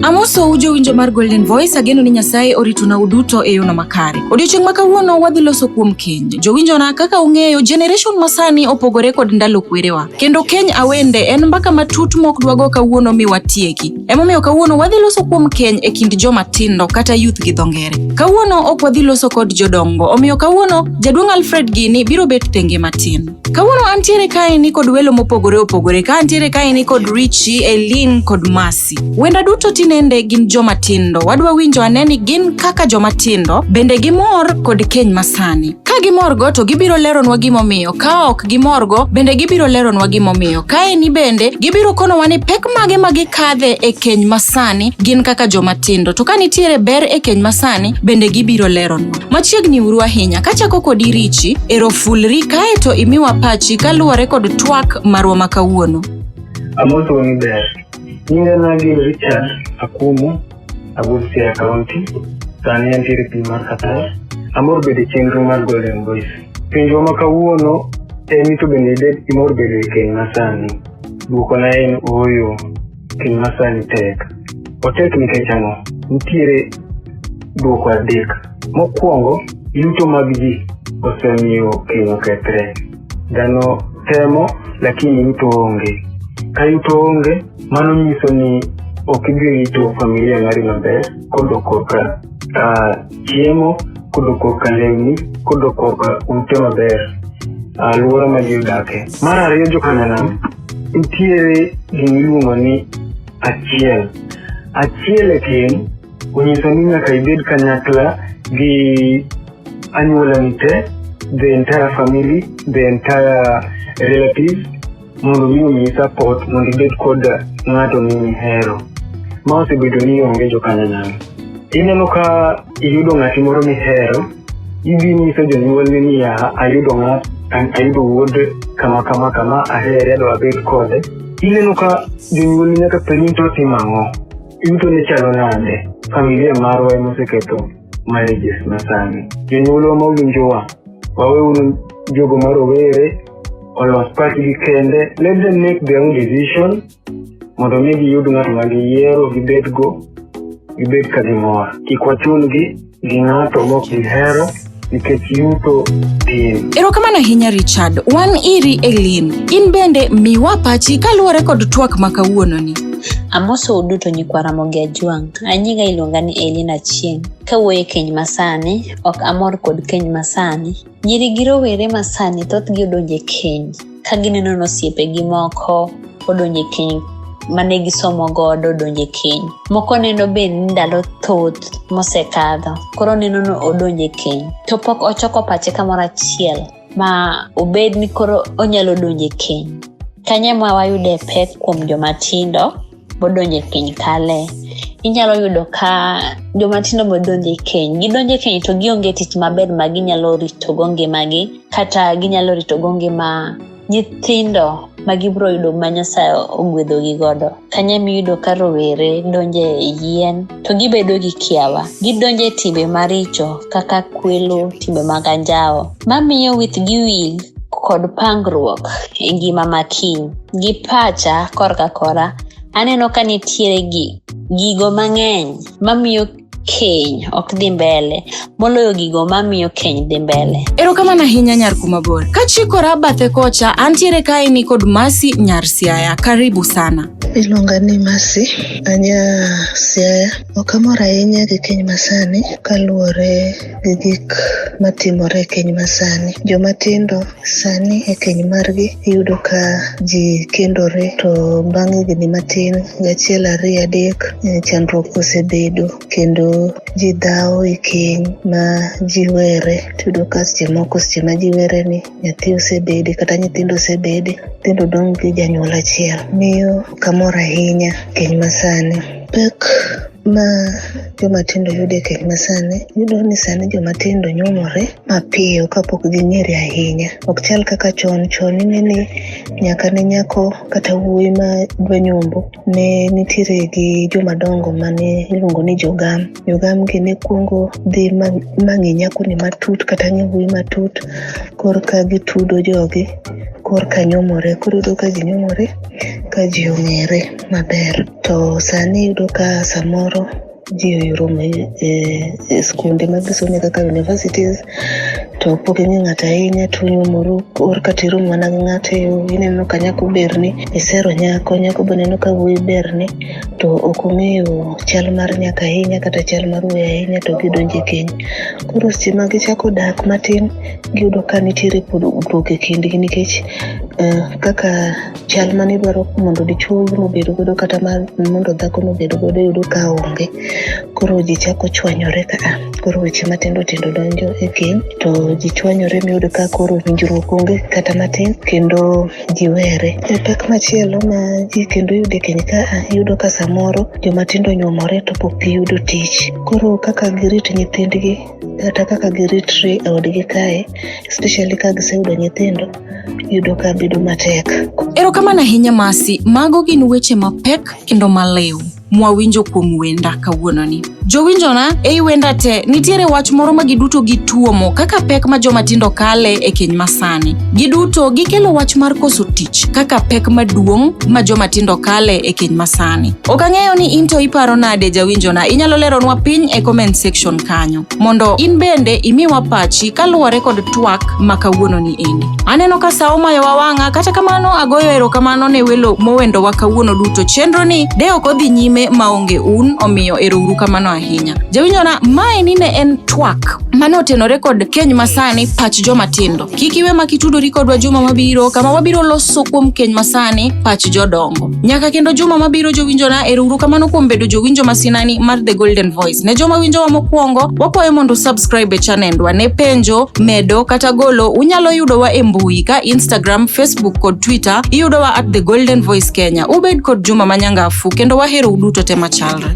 Amoso uje winjo mar Golden Voice ageno ni Nyasaye orituna uduto e yono makare. Odiochieng' ma kawuono wadhi loso kuom keny. Jowinjona kaka ung'eyo generation masani opogore kod ndalo kwerewa. Kendo keny awende en mbaka matut mok dwago kawuono mi watieki. Emomiyo kawuono wadhi loso kuom keny e kind joma tindo kata youth gi dho ngere. Kawuono ok wadhi loso kod jodongo, omiyo kawuono jaduong' Alfred Gini biro bet thenge matin. Kawuono antiere kaeni kod welo mopogore opogore, ka antiere kaeni kod Richi, Elin kod Masi. Wenda duto tinende gin joma tindo, wadwa winjo ane ni gin kaka joma tindo, bende gimor kod keny masani. Ka gimorgo to gibiro leronwa gimomiyo, ka ok gimorgo bende gibiro leronwa gimomiyo. Kae ni bende gibiro konowa ni pek mage ma gikadhe e keny masani gin kaka joma tindo. To ka nitiere ber e keny masani bende gibiro leronwa. Machiegni uru ahinya, kachako kod irichi, erofulri kae to imiwa pachi kaluwore kod twak marwa ma kawuono. Amoso ni ber. Nyinga nagi Richard Akumu. Abusia County, sani antiere piny mar Qatar. Amor bedo e chenro mar Golden Boys. Penjwa ma kawuono en ni to bende ibed imor bedo e keny masani. Dwokona en ooyo, keny masani tek. Otek nikech ang'o? Nitiere dwoko adek. Mokwongo, yuto mag ji osemiyo keny okethre. Dhano temo lakini yuto onge. Ka yuto onge, Mano nyiso ni ok idhi rito familia mari maber kodo korka uh, chiemo kodo korka lewni kodo korka ute maber alwora ma ji odakie mar ariyo jokananam nitiere gima iluongo ni achiel achiel e tin onyiso ni nyaka ibed kanyakla gi anyuolani te the entire family the entire relatives mondo mi omiyi support mondo ibed kod ng'ato mihero ma osebedo ni onge jokanyanyal ineno ka iyudo ng'ati moro mihero idhi nyiso jonyuolni niya ayudo ng'at ayudo wuod kama kama kama ahere adwa abed kode ineno ka jonyuolni nyaka penyi to timo ang'o yuto ne chalo nade familia marwa ema oseketho marriages masani jonyuolwa ma owinjowa waweuru jogo marowere olo pachgi gikende let them make their own decision mondo mi giyud ng'at ma giyiero gibedgo gibed ka gimor kik wachungi gi ng'ato mok gihero nikech yuto tin erokamano ahinya richard wan iri elin in bende miwa pachi kaluwore kod twak ma kawuononi Amoso uduto nyikwa Ramogi Ajwang'. Anyinga iluonga ni Elina Chieng'. Kawuoyo e keny masani, ok amor kod keny masani. Nyiri gi rowere ma sani thothgi odonje keny ka gineno ni osiepegi moko odonje keny mane gisomo godo odonje keny. Moko neno be ni ndalo thoth mosekadho koro neno ni odonje keny to pok ochoko pache kamoro achiel ma obed ni koro onyalo donje keny. Kanye ma wayude pek kuom joma tindo? bodonjo e keny kale inyalo yudo ka joma tindo bodonjo e keny gidonjo e keny to gionge tich maber ma ginyalo ritogo ngimagi kata ginyalo ritogo ngima nyithindo ma gibiro yudo ma nyasaye ogwedhogi godo kanya miyudo ka rowere donjo e yien to gibedo gi kiawa gidonjo e timbe maricho kaka kwelo timbe mag anjawo mamiyo wich gi wil kod pangruok e ngima ma kiny. Gi pacha korka kora, aneno ka nitiere gi gigo mang'eny mamiyo keny ok dhi mbele moloyo gigo mamiyo keny dhi mbele. Erokamano ahinya nyar kuma bor. Kachikora bathe kocha, antiere kae ni kod Masi nyar Siaya. Karibu sana. Iluonga ni Masi anya Siaya. Ok amor ahinya gi keny masani kaluwore e gik matimore e keny masani. Joma tindo sani e keny margi iyudo ka ji kendore to bang' higni matin gachiel ariyo adek eh, chandruok osebedo kendo ji dhawo e keny ma ji were tiyudo ka seche moko seche ma ji were ni nyathi osebede kata nyithindo osebede nyithindo dong' gi janyuol achiel miyo kamor ahinya keny masani pek ma joma tindo yudo e keny masani yudo ni sani joma tindo nyuomore mapiyo kapok ging'ere ahinya ok chal kaka chon chon ine ni nyaka ne nyako kata wuoyi ma dwa nyombo ne nitiere gi jomadongo mane iluongo ni jogam jogam gi ne kuongo dhi mang'e nyakoni matut kata ng'e wuoyi matut korka gitudo jogi korka nyomore koro yudo ka ji nyomore ka ji ong'ere maber To sani iyudo ka samoro ji oyuromo e, e skunde ma gisome kaka universities to pok ing'e ng'ato ahinya to onyuomoro or kata iromo mana gi ng'ato e yo ineno ka nyako berni isero nyako nyako be neno ka wuoyi berni to ok ong'eyo chal mar nyaka ahinya kata chal mar wuoyi ahinya to gidonje keny koro seche ma gichako dak matin giyudo ka nitiere pogruok e kindgi nikech uh, kaka chal mane dwaro mondo dichwo owuon obed godo kata mondo dhako nobed godo yudo ka onge koro ji chako chwanyore ka ah, koro weche matindo tindo donjo e keny to ji chwanyore miyud ka koro winjruok onge kata matin kendo ji were e pek machielo ma ji kendo yude keny ka ah, iyudo ka samoro jomatindo nyuomore to pok giyudo tich koro kaka girit nyithindgi kata kaka giritre e odgi kae especially ka giseyudo nyithindo yudo ka bedo matek. Erokamano ahinya Masi, mago gin weche mapek kendo maliw mwawinjo kuom wenda kawuononi. Jowinjona, ei wenda te nitiere wach moro ma giduto gituomo kaka pek ma joma tindo kale e keny masani. Giduto gikelo wach mar koso tich kaka pek maduong' ma joma tindo kale e keny masani. Ok ang'eyo ni into iparo nade jawinjona, inyalo leronwa piny e comment section podcast kanyo mondo in bende imiwa pachi kaluwore kod twak ma kawuononi endi. Aneno ka sa omayowa wang'a, kata kamano agoyo erokamano ne welo mowendowa kawuono duto. Chenroni de ok odhi nyime maonge un, omiyo erouru kamano ahinya. Jawinyona, maeni ne en twak mane otenore kod keny masani pach joma tindo. Kik iwe mak itudori kodwa juma mabiro kama wabiro loso kuom keny masani pach jodongo. Nyaka kendo juma mabiro jowinjona erouru kamano kuom bedo jowinjo masinani mar The Golden Voice. Ne joma winjowa mokwongo, wakwayo mondo subscribe e chanendwa ne penjo, medo kata golo unyalo yudowa e mbui ka Instagram, Facebook kod Twitter iyudowa at The Golden Voice Kenya. Ubed kod juma manyangafu kendo wahero uduto te machalre.